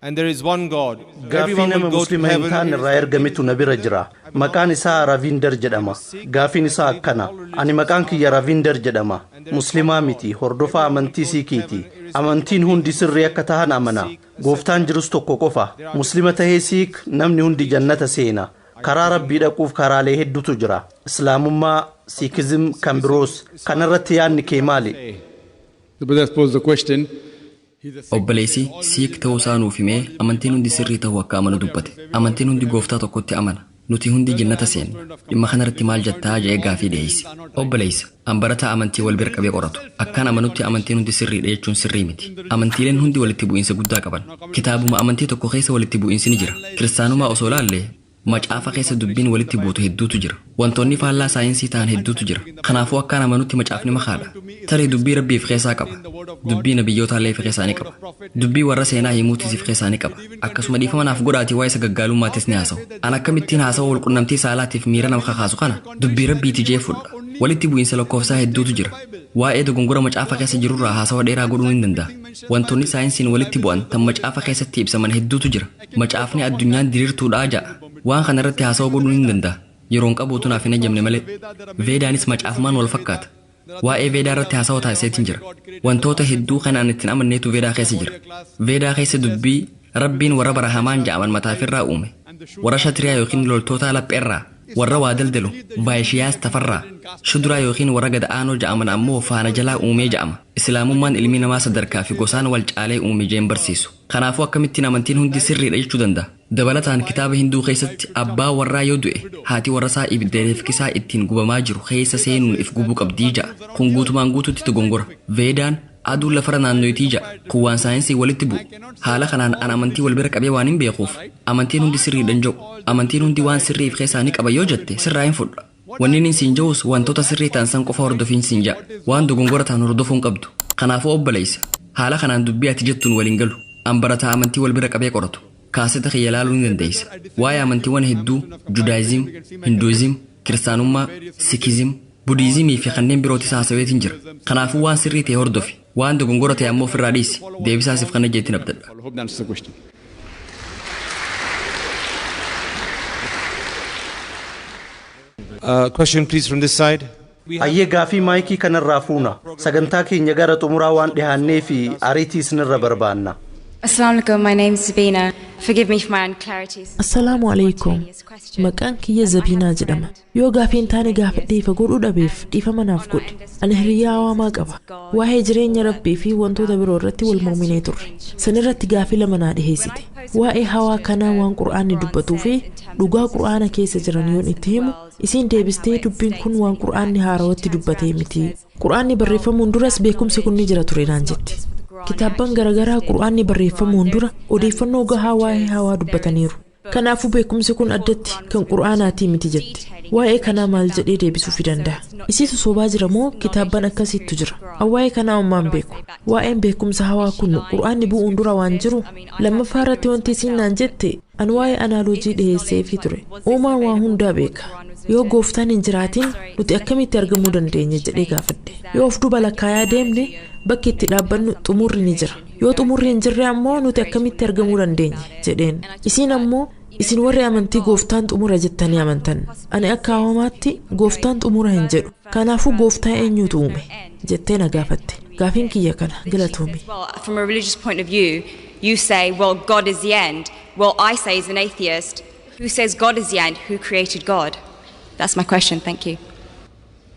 And there is one God. Gaaffii Everyone will nama go to Muslima hin heaven. taane irraa ergametu na bira jira. Maqaan isaa Ravinder jedhama. Gaafiin isaa akkana. Ani maqaan kiyya Ravinder jedhama. Muslimaa miti, hordofaa amantii Siikiiti. Amantiin hundi sirrii akka tahan amana. Gooftaan jirus tokko qofa. Muslima tahee Siik namni hundi jannata seena. Karaa Rabbii dhaquuf karaalee heddutu jira. Islaamummaa, Siikizim, kan biroos. Kanarratti yaadni kee maali? The brother posed the question Obboleessi Siik ta'uusaa nuuf himee amantiin hundi sirrii ta'uu akka amanu dubbate. Amantiin hundi Gooftaa tokkotti amana. Nuti hundi Jannata seenna. Dhimma kanarratti maal jettaa? jedhee gaaffii dhiheesse. Obboleessa, an barataa amantii wal bira qabee qoratu. Akkan amanutti amantiin hundi sirriidha jechuun sirrii miti. Amantiileen hundi walitti bu'iinsa guddaa qaban. Kitaabuma amantii tokko keessa walitti bu'iinsi ni jira. Kiristaanumaa osoo ilaalle, Macaafa keessa dubbiin walitti buutu hedduutu jira. Wantoonni faallaa saayinsii ta'an hedduutu jira. Kanaafuu akkaan amanutti macaafni makaadha. Tarii dubbii Rabbii if keessaa qaba. Dubbii nabiyyootaa'llee if keessaa ni qaba. Dubbii warra seenaa himuutis if keessaa ni qaba. Akkasuma dhiifama naaf godhaatii waa'ee sagaggaalummaattis ni haasawa. An akkamittiin haasawa walqunnamtii saalaatiif miira nama kakaasu kana dubbii Rabbiiti je'ee fudha. Walitti bu'iinsa lakkoofsaa hedduutu jira. Waa'ee dogongora macaafa keessa jirurraa haasawa dheeraa godhuun hin danda'a. Wantoonni saayinsiin walitti bu'an tan macaafa keessatti ibsaman hedduutu jira. Macaafni addunyaan diriirtuudha ja'a. Waan kana irratti haasawa godhuun hin danda'a. Yeroon qabu utuu naaf hin hayyamne malee. Veedaanis macaafumaan wal fakkaata. Waa'ee Veedaa irratti haasawa taasiseetin jira. Wantoota hedduu kan an itti hin amanneetu Veedaa keessa jira. Veedaa keessa dubbii, Rabbiin warra Barahamaan ja'aman mataafirraa uume, warra Shatriyaa ykn loltootaa lapheerraa, warra waa daldalu, Vaayishiyaas, tafarraa, Shuduraa ykn warra gad aanoo ja'aman ammoo faana jalaa uumee ja'ama. Islaamummaan ilmi namaa sadarkaa fi gosaan wal caalee uume jeen barsiisu. Kanaafuu akkamittiin amantiin hundi sirriidha jechuu danda'a? Dabalataan kitaaba Hinduu keessatti abbaa warraa yoo du'e haati warrasaa ibidda reefkisaa ittiin gubamaa jiru keessa seenuun if gubuu qabdi ja'a. Kun guutumaan guutuutti dogongora. Veedaan aduun lafarra naannoyiti ja'a. Kun waan saayinsiin walitti bu'u. Haala kanaan an amantii wal bira qabee waanin beekuuf amantiin hundi sirriidhan ja'u. Amantiin hundi waan sirrii if keessaa ni qaba yoo jette sirraa hin fudha. Wanni nin siin ja'us wantoota sirrii ta'an san qofa hordofiin siin ja'a. Waan dogongora tahan hordofuu hin qabdu. Kanaafuu obboleeysa, haala kanaan dubbii ati jettuun wal hin galu. An barataa amantii wal bira qabee qoratu. Kaaseta kiyya laaluu ni dandeeysa. Waa'ee amantiiwwan hedduu, Judaayizim, Hinduizim, Kiristaanummaa, Sikizim, Budiizimii fi kanneen birootis haasaweetin jira. Kanaafuu waan sirrii tahe hordofi. Waan dogongora ta'e ammoo ofirraa dhiisi. Deebisaa siif kanna jeettiin abdadha. Uh, question please from this side. Hayyee gaafii maayikii kanarraa fuuna. Sagantaa keenya gara xumuraa waan dhihaannee fi ariitii isinirra barbaanna. Assalamu alaikum, my name is Sabina. Forgive me for my unclarities. Assalaamu alaikum. Maqaan kiyya Zabiinaa jedhama. Yoo gaafii hin taane gaafadhee ifa godhuu dhabeef dhiifama naaf godhi. Ani hiriyyaa awaamaa qaba. Waa'ee jireenya Rabbii fi wantoota biroo irratti wal morminee turre. San irratti gaafii lama naa dhiheessite. Waa'ee hawaa kanaa waan Qur'aanni dubbatuu fi dhugaa Qur'aana keessa jiran yoon itti himu, isiin deebistee dubbiin kun waan Qur'aanni haarawatti dubbatee miti. Qur'aanni barreeffamuun duras beekumsi kun ni jira ture naan jetti. Kitaabban garagaraa Qur'aanni barreeffamuun dura odeeffannoo gahaa waa'ee hawaa dubbataniiru. Kanaafuu beekumsi kun addatti kan Qur'aanaatii miti jette. Waa'ee kanaa maal jedhee deebisuufi dandaha? Isiitu sobaa jira moo kitaabban akkasiittu jira? An waa'ee kanaa ommaan beeku. Waa'een beekumsa hawaa kun Qur'aanni bu'uun dura waan jiru? Lammaffaa irratti wanti isiin naan jette an waa'ee anaaloojii dhiheesseefii ture. Uumaan waa hundaa beeka. Yoo Gooftaan hin jiraatin nuti akkamitti argamuu dandeenya jedhee gaafadhe. Yoo of duuba lakkaayaa deemne bakki itti dhaabbannu xumurri ni jira. Yoo xumurri hin jirre ammoo nuti akkamitti argamuu dandeenya? jedheen. Isiin ammoo, Isin warri amantii gooftaan xumura jettanii amantan. Ani akka awamaatti gooftaan xumura hin jedhu. Kanaafuu gooftaa eenyuutu uume? jettee na gaafatte. Gaafiin kiyya kana galatoomi. Well, from a religious point of view, you say, well, God is the end. Well, I say as an atheist, who says God is the end? Who created God? That's my question. Thank you.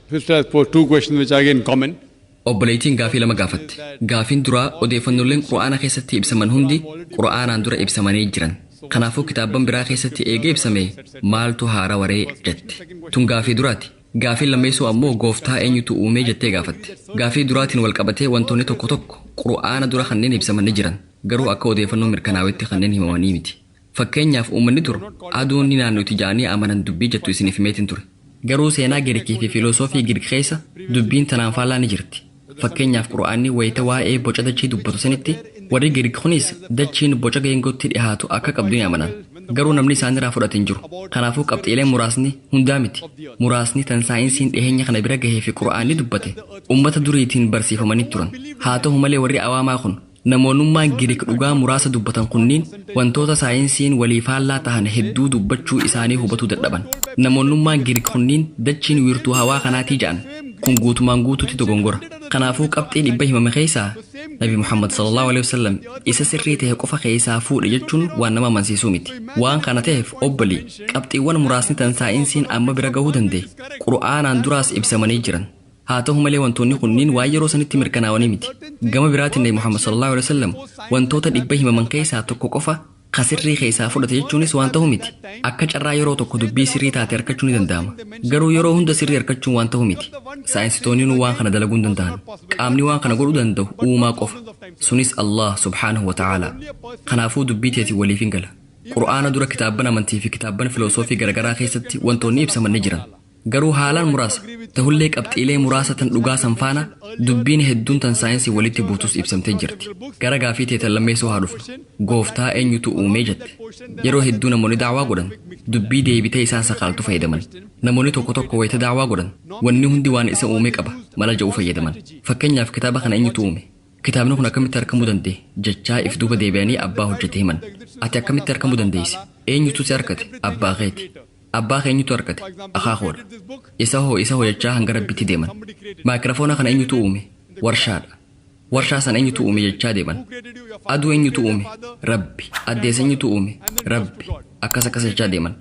First, I pose two questions which are again common. Obboleeytiin gaafii lama gaafatte. Gaafiin duraa odeeyfannolleen Qur'aana keessatti ibsaman hundi Qur'aanaan dura ibsamanii jiran. Kanaafuu kitaabban biraa keessatti eega ibsamee maaltu haarawa ree? jette. Tun gaafii duraati. Gaafiin lammeeysoo ammoo Gooftaa eenyutu uumee jettee gaafatte. Gaafii duraatiin wal qabatee wantoonni tokko tokko Qur'aana dura kanneen ibsaman ni jiran. Garuu akka odeeyfannoon mirkanaawetti kanneen himamanii miti. Fakkeenyaaf uummanni dur aduun ni naannoyti ja'anii amanan dubbii jettu isiniif himeetin ture. Garuu seenaa Girikii fi filosoofii Girik keessa dubbiin tanaan faallaa ni jirti. Fakkeenyaaf Qur'aanni wayta waa'ee boca dachii dubbatu sanitti warri Girik kuniis dachiin boca geengootti dhihaatu akka qabdu ni amanan. Garuu namni isaaniraa fudhate hin jiru. Kanaafuu qabxiileen muraasni, hundaa miti, muraasni tan saayinsiin dhiheenya kana bira gahee fi Qur'aanni dubbate ummata duriitiin barsiifamanii turan. Haa tahu malee warri awaamaa kun. Namoonummaan Giriik dhugaa muraasa dubbatan kunniin wantoota saayinsiin walii faallaa tahan hedduu dubbachuu isaanii hubatuu dadhaban. Namoonnummaan Giriik kunniin dachiin wiirtuu hawaa kanaatii ja'an. Kun guutumaan guutuutti dogongora. Kanaafuu qabxii dhibba himame keessaa Nabi Muhammad sallallaahu aleyhi wasallam isa sirrii tahe qofa keessaa fuudhe jechuun waan nama amansiisuu miti. Waan kana taheef obboli, qabxiiwwan muraasni tan saayinsiin amma bira gahuu dandahe, Qur'aanaan duraas ibsamanii jiran. Haa tahu malee wantoonni kunniin waan yeroo sanitti mirkanaawanii miti. Gama biraatiin Nabi Muhammad sallallaahu aleyhi wa sallam wantoota dhibba himaman keeysaa tokko qofa ka sirrii keeysaa fudhate jechuunis waan tahu miti. Akka carraa yeroo tokko dubbii sirrii taate arkachuu ni danda'ama. Garuu yeroo hunda sirrii arkachuun waan tahu miti. Saayinsitoonniinuu waan kana dalaguu hin danda'an. Qaamni waan kana godhuu dandahu Uumaa qofa. Sunis Allaah subhaanahu wa ta'aalaa. Kanaafuu dubbii teetiin waliif hin gala. Qur'aana dura kitaabban amantii fi kitaabban filoosoofii garagaraa keeysatti wantoonni ibsaman ni jiran. Garuu haalaan muraasa, tahullee qabxiilee muraasa tan dhugaa san faana dubbiin hedduun tan saayinsiin walitti buutus ibsamtee jirti. Gara gaafii tee tan lammeessoo haa dhufnu. Gooftaa eenyutu uume jette. Yeroo hedduu namoonni da'waa godhan dubbii deebitee isaan sakaaltu fayyadaman. Namoonni tokko tokko wayta da'waa godhan wanni hundi waan isa uume qaba mala ja'u fayyadaman. Fakkeenyaaf kitaaba kana eenyutu uume? Kitaabni kun akkamitti arkamuu danda'e? jechaa if duuba deebi'anii abbaa hojjate himan. Ati akkamitti arkamuu dandeeyse? Eenyutu si arkate? Abbaa keeti. Abbaa keenyutu arkate, akaakoodha. Isahoo, isahoo jechaa hanga Rabbiitti deeman. Maayikirafoona kana eenyutu uume? Warshaadha. Warshaa sana eenyutu uume jechaa deeman. Aduu eenyutu uume? Rabbi. Addeessa eenyutu uume? Rabbi. Akkas akkas jechaa deeman.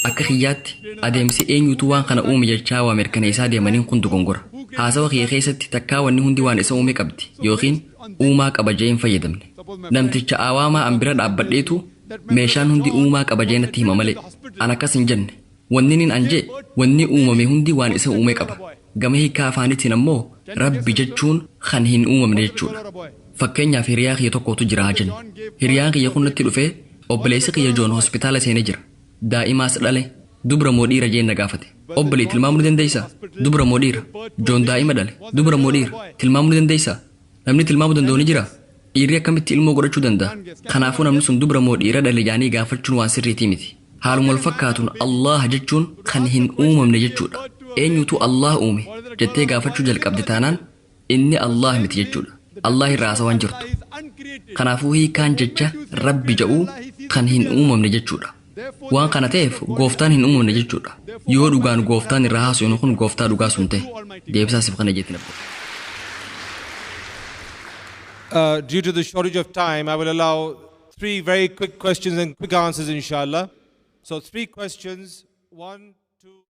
Akka kiyyaatti, adeemsi eenyutu waan kana uume jechaa waa mirkaneessaa deemaniin kun dogongora. Haasawa kiyya keessatti takkaa wanni hundi waan isa uume qabdi ykn uumaa qaba je'ee hin fayyadamne. Namticha awaamaa an bira dhaabbadheetu Meeshaan hundi uumaa qaba jee natti hima malee an akkas hin jenne. Wanninin an jee wanni uumame hundi waan isa uume qaba. Gama hiikkaa afaanitiin ammoo Rabbi jechuun kan hin uumamne jechuudha. Fakkeenyaaf hiriyaa kiyya tokkootu jira haa jennu. Hiriyaan kiyya kun natti dhufee obboleessi kiyya Joon hospitaala seene jira. Daa'imaas dhale. Dubra moo dhiira jeen na gaafate. Obbolee tilmaamuu ni dandeessaa? Dubra moo dhiira? Joon daa'ima dhale. Dubra moo dhiira? Tilmaamuu ni dandeessaa? Namni tilmaamu danda'u ni jira? Dhiirri akkamitti ilmoo godhachuu danda'a? Kanaafuu namni sun dubra moo dhiira dhale jedhanii gaafachuun waan sirriitii miti. Haaluma wal fakkaatuun Allaah jechuun kan hin uumamne jechuudha. Eenyutu Allaah uume? jettee gaafachuu jalqabde taanaan inni Allaah miti jechuudha. Allaah irra haasawaa hin jirtu. Kanaafuu hiikaan jecha Rabbi jedhuu kan hin uumamne jechuudha. Waan kana ta'eef Gooftaan hin uumamne jechuudha. Yoo dhugaan Gooftaan irraa haasofnu kun Gooftaa dhugaa sun ta'e. Deebisaa siif kana jeetiin abboo. Uh, due to the shortage of time, I will allow three very quick questions and quick answers, inshallah. So, three questions. One.